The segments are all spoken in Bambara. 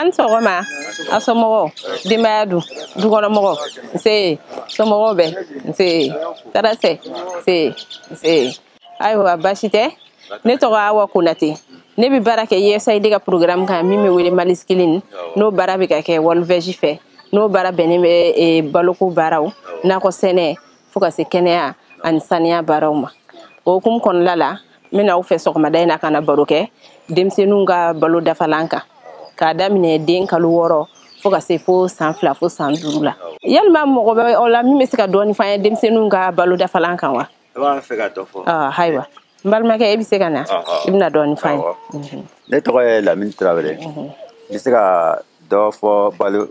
an sɔgɔma a somɔgɔw denbaya dun dukɔnɔmɔgɔw nse somɔgɔw bɛ nse tarasɛ nse nse ayiwa baasi tɛ ne tɔgɔ awa konate ne bɛ baara kɛ usaid ka programme kan min bɛ wele mali scaling n'o baara bɛ ka kɛ worldveg fɛ n'o baara bɛnnen bɛ baloko baaraw nakɔ sɛnɛ fo ka se kɛnɛya ani saniya baaraw ma o hukumu kɔnɔla la n bɛna aw fɛ sɔgɔmada in na ka na baro kɛ denmisɛnninw ka balo dafalan kan k'a daminɛ den kalo wɔɔrɔ fo ka se fo san fila fo san duuru la yalima mɔgɔ bɛ aw la min bɛ se ka dɔɔni f'an ye denmisɛnninw ka balo dafalan kan wa ayiwa n balimakɛ e bɛ se ka na i bɛna dɔɔnin f'an ye ne tɔgɔ ye lamini tarawele n bɛ se ka dɔ fɔ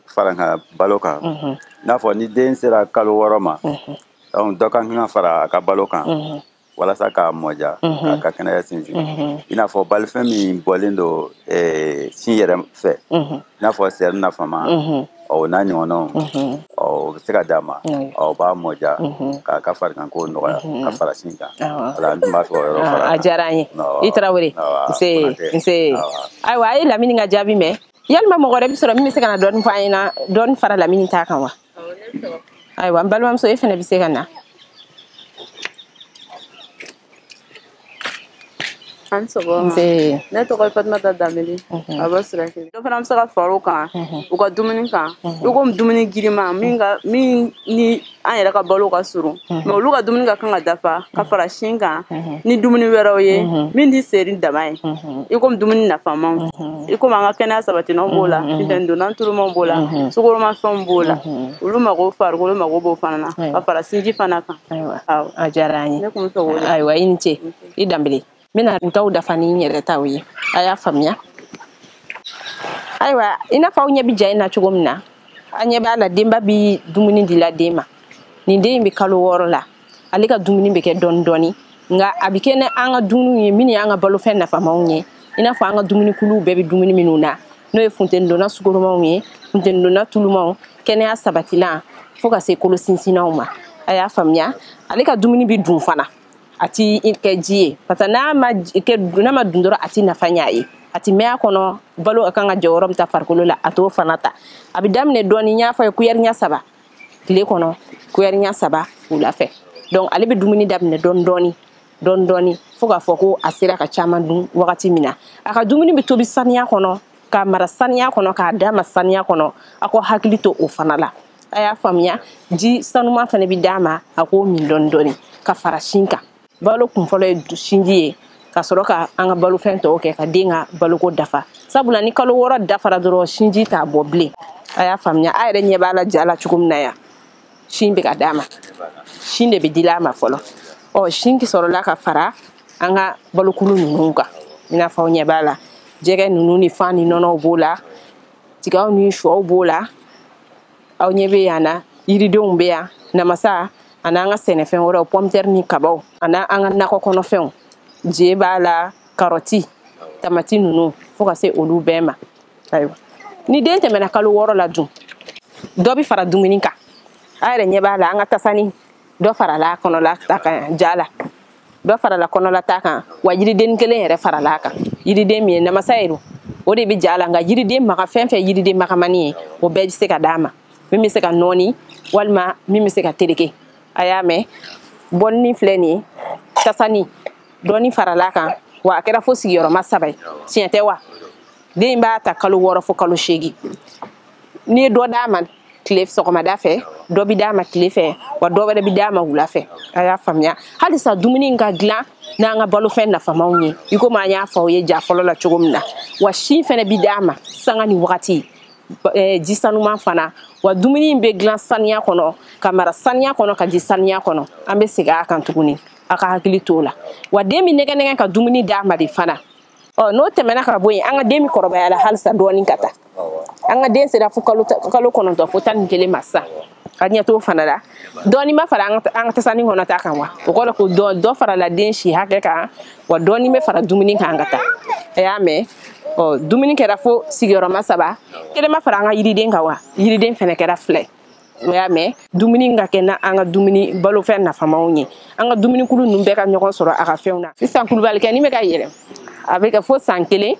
farankan balo kan n'a fɔ ni den sera kalo wɔɔrɔ ma donc dɔ ka kan ka fara a ka balo kan walasa k'a mɔja k'a ka kɛnɛya sinsin i n'a fɔ balofɛn min bɔlen don sin yɛrɛ fɛ i n'a fɔ seri nafama ɔ o n'a ɲɔgɔnnaw ɔ o bɛ se ka d'a ma ɔ o b'a mɔja k'a ka fariganko nɔgɔya ka fara sin kan voilà n tun b'a fɛ o yɔrɔ fara a diyara an ye i tarawele nse nse ayiwa a ye lamini ka jaabi mɛn yalima mɔgɔ wɛrɛ bɛ sɔrɔ min bɛ se ka na dɔɔni fɔ an ɲɛna dɔɔni fara lamini ta kan wa ayiwa n balimamuso e fana bɛ se ka na an ni sɔgɔma ne tɔgɔ ye fatumata danbele a bɛ siraki dɔ fana bɛ se ka far'o kan u ka dumuni kan i komi dumuni girima min ni an yɛrɛ ka balo ka surun mais olu ka dumuni ka kan ka dafa ka fara sin kan ni dumuni wɛrɛw ye min tɛ seri dama ye i komi dumuni nafamaw i komi an ka kɛnɛya sabatinanw b'o la funtenidonna tulumanw b'o la sukoromafɛnw b'o la olu mago farikolo mago b'o fana na ka fara sinji fana kan ayiwa a diyara an ye ayiwa i ni ce i danbele n bɛna u taw dafa ni n yɛrɛ taw ye a y'a faamuya ayiwa i n'a fɔ aw ɲɛ bɛ ja in na cogo min na an ɲɛ b'a la denba bi dumuni dila den ma nin den in bɛ kalo wɔɔrɔ la ale ka dumuni bɛ kɛ dɔɔni dɔɔni nka a bɛ kɛ ni an ka dumuniw ye minnu y'an ka balofɛn nafamaw ye i n'a fɔ an ka dumunikuluw bɛɛ bɛ dumuni minnu na n'o ye funtenidonna sukoromanw ye funtenidonna tulumanw kɛnɛya sabatilan fo ka se kolo sinsinnaw ma a y'a faamuya ale ka dumuni bɛ dun fana a ti kɛ ji ye parce que n'a ma kɛ n'a ma dun dɔrɔn a ti nafa ɲɛ a ye a ti mɛn a kɔnɔ balo ka kan ka jɔyɔrɔ min ta farikolo la a t'o fana ta a bɛ daminɛ dɔɔni n y'a fɔ ye kuyɛri ɲɛ saba tile kɔnɔ kuyɛri ɲɛ saba wula fɛ donc ale bɛ dumuni daminɛ dɔɔni dɔɔni dɔɔni dɔɔni fo k'a fɔ ko a sera ka caman dun wagati min na a ka dumuni bɛ tobi saniya kɔnɔ k'a mara saniya kɔnɔ k'a d'a ma saniya kɔnɔ a k'aw hakili to o fana la a y'a faamuya ji sanuman fana bɛ d'a ma a k'o min dɔɔni dɔɔni ka fara sin kan balo kun fɔlɔ ye sinji ye ka sɔrɔ ka an ka balofɛn tɔw kɛ ka den ka baloko dafa sabula ni kalo wɔɔrɔ dafara dɔrɔn sinji t'a bɔ bilen a y'a faamuya a yɛrɛ ɲɛ b'a la ja la cogo min na yan sin bɛ ka d'a ma sin de bɛ dila a ma fɔlɔ ɔ sin sɔrɔla ka fara an ka balokulu ninnu kan i n'a fɔ aw ɲɛ b'a la jɛgɛ ninnu ni fan ni nɔnɔw b'o la tigaw ni shɔw b'o la aw ɲɛ bɛ yan na yiridenw bɛ yan namasa ani an ka sɛnɛfɛn wɛrɛw pɔmtɛri ni kabaw ani an ka nakɔ kɔnɔfɛnw je b'a la karɔti tamati ninnu fo ka se olu bɛɛ ma ayiwa ni den tɛmɛna kalo wɔɔrɔ la dun dɔ bɛ fara dumuni kan a yɛrɛ ɲɛ b'a la an ka tasani dɔ farala kɔnɔla ta kan ja la dɔ farala kɔnɔla ta kan wa yiriden kelen yɛrɛ farala a kan yiriden min ye namasa ye don o de bɛ ja la nka yiriden maga fɛn fɛn yiriden magamani ye o bɛɛ bɛ se ka d'a ma min bɛ se ka nɔɔni walima min bɛ se ka tereke a y'a mɛn bɔnni filɛ nin ye tasani dɔɔni farala kan wa a kɛra fo sigiyɔrɔma saba ye tiɲɛ tɛ wa den b'a ta kalo wɔɔrɔ fo kalo seegin n'i ye dɔ d'a ma tile sɔgɔmada fɛ dɔ bɛ d'a ma tile fɛ wa dɔ wɛrɛ bɛ d'a ma wula fɛ a y'a faamuya halisa dumuni in ka dilan n'an ka balofɛn nafamaw ye i komi an y'a fɔ aw ye ja fɔlɔ la cogo min na wa sin fɛnɛ bɛ d'a ma sanga ni wagati eh, ji sanuman fana wa dumuni in bɛ dilan saniya kɔnɔ ka mara saniya kɔnɔ ka di saniya kɔnɔ an bɛ segin a kan tuguni a ka hakili t'o la wa den bɛ nɛgɛ nɛgɛ ka dumuni d'a ma de fana ɔ n'o tɛmɛna ka bɔ yen an ka den bɛ kɔrɔbaya la halisa dɔɔni ka taa an ka den sera fo kalo kalo kɔnɔntɔn fo tan ni kelen ma sisan a ɲɛ t'o fana la dɔɔni ma fara an ka tasani kɔnɔ ta kan wa o kɔrɔ ko dɔ dɔ farala den si hakɛ kan wa dɔɔni bɛ fara dumuni kan ka taa a y'a mɛn ɔ dumuni kɛra fo sigiyɔrɔma saba kelen ma fara an ka yiriden kan wa yiriden fana kɛra fila ye aw y'a mɛn dumuni ka kɛ n'an ka dumuni balofɛn nafamaw ye an ka dumunikulu ninnu bɛɛ ka ɲɔgɔn sɔrɔ a ka fɛnw na sisan kulubalikɛni bɛ ka yɛlɛ a bɛ kɛ fo san kelen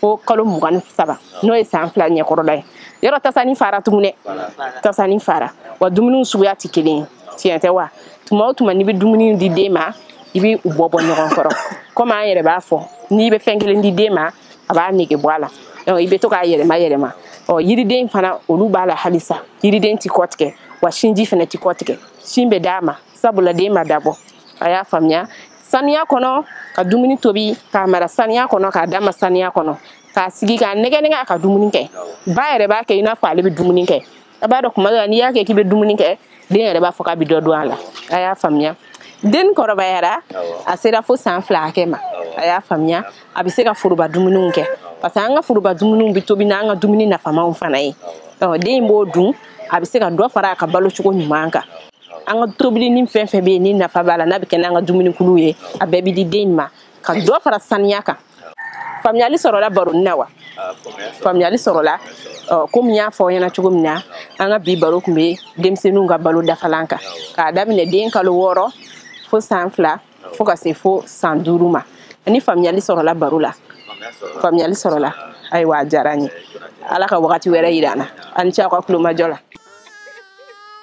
fo kalo mugan ni saba n'o ye san fila ɲɛkɔrɔla ye yɔrɔ tasani fara tugun dɛ tasani fara wa dumuniw suguya tɛ kelen ye tiɲɛ tɛ wa tuma o tuma n'i bɛ dumuni di den ma i bɛ u bɔ bɔ ɲɔgɔn kɔrɔ komi an yɛrɛ b'a fɔ n'i bɛ fɛn kelen di den ma a b'a nege bɔ a la i bɛ to k'a yɛlɛma yɛlɛma ɔ yiriden fana olu b'a la halisa yiriden ti kɔ tigɛ wa sinji fana ti kɔ tigɛ sin bɛ d'a ma sabula den ma dabɔ a y'a faamuya saniya kɔnɔ ka dumuni tobi k'a mara saniya kɔnɔ k'a d'a ma saniya kɔnɔ k'a sigi k'a nɛgɛ nɛgɛ a ka dumuni kɛ ba yɛrɛ b'a kɛ i n'a fɔ ale bɛ dumuni kɛ a b'a dɔn tuma dɔ la n'i y'a kɛ k'i bɛ dumuni kɛ den yɛrɛ b'a fɔ k'a bɛ dɔ dun a la a y'a faamuya den kɔrɔbayara a sera fo san fila hakɛ ma a y'a faamuya a bɛ se ka foroba dumuniw kɛ parce que an ka foroba dumuniw bɛ tobi n'an ka dumuni nafamaw fana ye den b'o dun a bɛ se ka dɔ fara a ka balo cogo ɲuman kan an ka tobili ni fɛn fɛn bɛ yen ni nafa b'a la n'a bɛ kɛ n'an ka dumunikuluw ye a bɛɛ bɛ di den ma ka dɔ fara saniya kan faamuyali sɔrɔla baroni na wa faamuyali sɔrɔla komi n y'a fɔ aw ɲɛna cogo min na an ka bi baro tun bɛ denmisɛnninw ka balo dafalan kan k'a daminɛ den kalo wɔɔrɔ fo san fila fo ka se fo san duuru ma ani faamuyali sɔrɔla baro la faamuyali sɔrɔla ayiwa a diyara n ye ala ka wagati wɛrɛ yira an na a ni ce aw ka kulomajɔ la